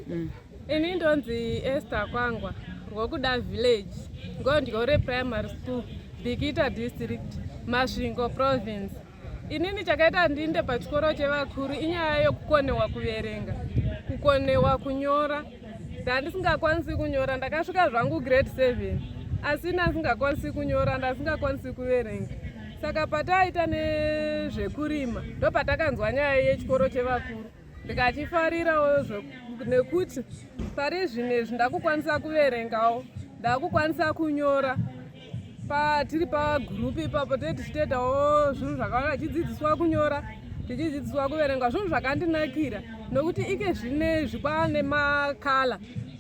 mm. ini ndonzi ester kwangwa rwokuda village ngondyore primary school bikita district masvingo province inini chakaita ndinde pachikoro chevakuru inyaya yokukonewa kuverenga kukonewa kunyora ndandisingakwanisi kunyora ndakasvika zvangu grade seven asi ndandisingakwanisi kunyora ndandisingakwanisi kuverenga saka pataaita nezvekurima ndopatakanzwa nyaya yechikoro chevakuru ndikachifarirawo nekuti pari zvinezvi ndakukwanisa kuverengawo ndakukwanisa kunyora patiri pagurupu ipapo tee tichitoitawo zvinhu zvakawanda tichidzidziswa kunyora tichidzidziswa kuverenga zvinhu zvakandinakira nokuti ike zvinezvi kwaane makala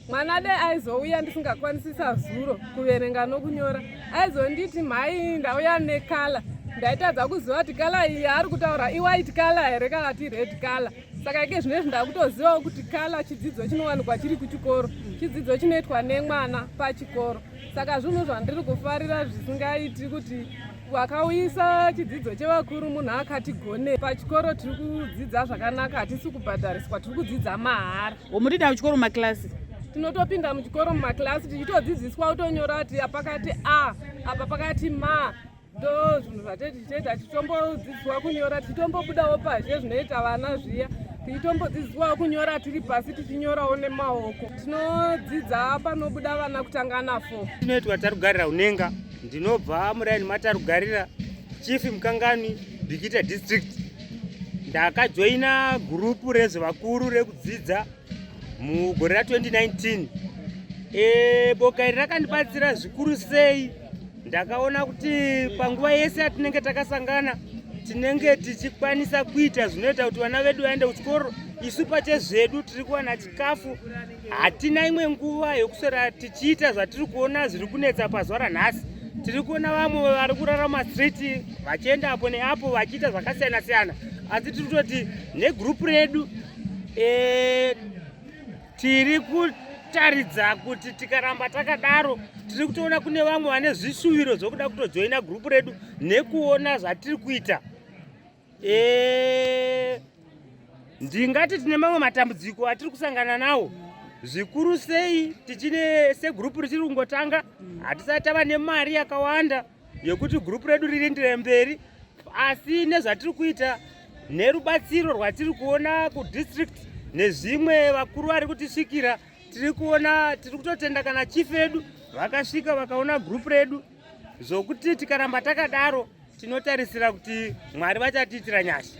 mwana dai aizouya ndisingakwanisisa zuro kuverenga nokunyora aizonditi mhai ndauya nekala ndaitadza kuziva kuti kala iyi yaari kutaura iwhite kala here kana kuti red kala saka ike zvino izvi ndakutozivawo kuti kala chidzidzo chinowanikwa chiri kuchikoro chidzidzo chinoitwa nemwana pachikoro saka zvinhu zvandiri kufarira zvisingaiti kuti Wakauyisa chidzidzo chevakuru munhu akati gone pachikoro tiri kudzidza zvakanaka hatisi kubhadhariswa tiri kudzidza mahara. Womutida kuchikoro makilasi? Tinotopinda muchikoro mumakilasi tichitodzidziswa kutonyora kuti pakati a apa pakati ma ndo zvinhu zvatete tichitoita tichitombodzidziswa kunyora tichitombobudawo pazhe zvinoita vana zviya tichitombodzidziswawo kunyora tiri pasi tichinyorawo nemaoko tinodzidza panobuda vana kutanga nafo tinoitwa tarugarira unenga ndinobva muraini matarugarira chief mukangani bikita district ndakajoina gurupu rezvevakuru rekudzidza mugore ra 2019 e, boka iri rakandibatsira zvikuru sei ndakaona kuti panguva yese yatinenge takasangana tinenge tichikwanisa kuita zvinoita kuti vana vedu vaende kuchikoro isu pachezvedu tiri kuwana chikafu hatina imwe nguva yokuswera tichiita zvatiri kuona zviri kunetsa pazuva ranhasi tiri kuona vamwe vari kurarama street vachienda apo neapo vachiita zvakasiyana siyana asi tiri kutoti negrupu redu e, tiri kutaridza kuti tikaramba takadaro tiri kutoona kune vamwe vane zvishuviro zvokuda kutojoina grupu redu nekuona zvatiri kuita Eh, ndingati tine mamwe matambudziko atiri kusangana nawo zvikuru sei tichine segurupu richiri kungotanga hatisati tava nemari yakawanda yekuti gurupu redu ririndire mberi asi nezvatiri kuita nerubatsiro rwatiri kuona kudistrict nezvimwe vakuru vari kutisvikira tiri kuona tiri kutotenda kana chief edu vakasvika vakaona gurupu redu zvokuti tikaramba takadaro tinotarisira kuti mwari vachatiitira nyasha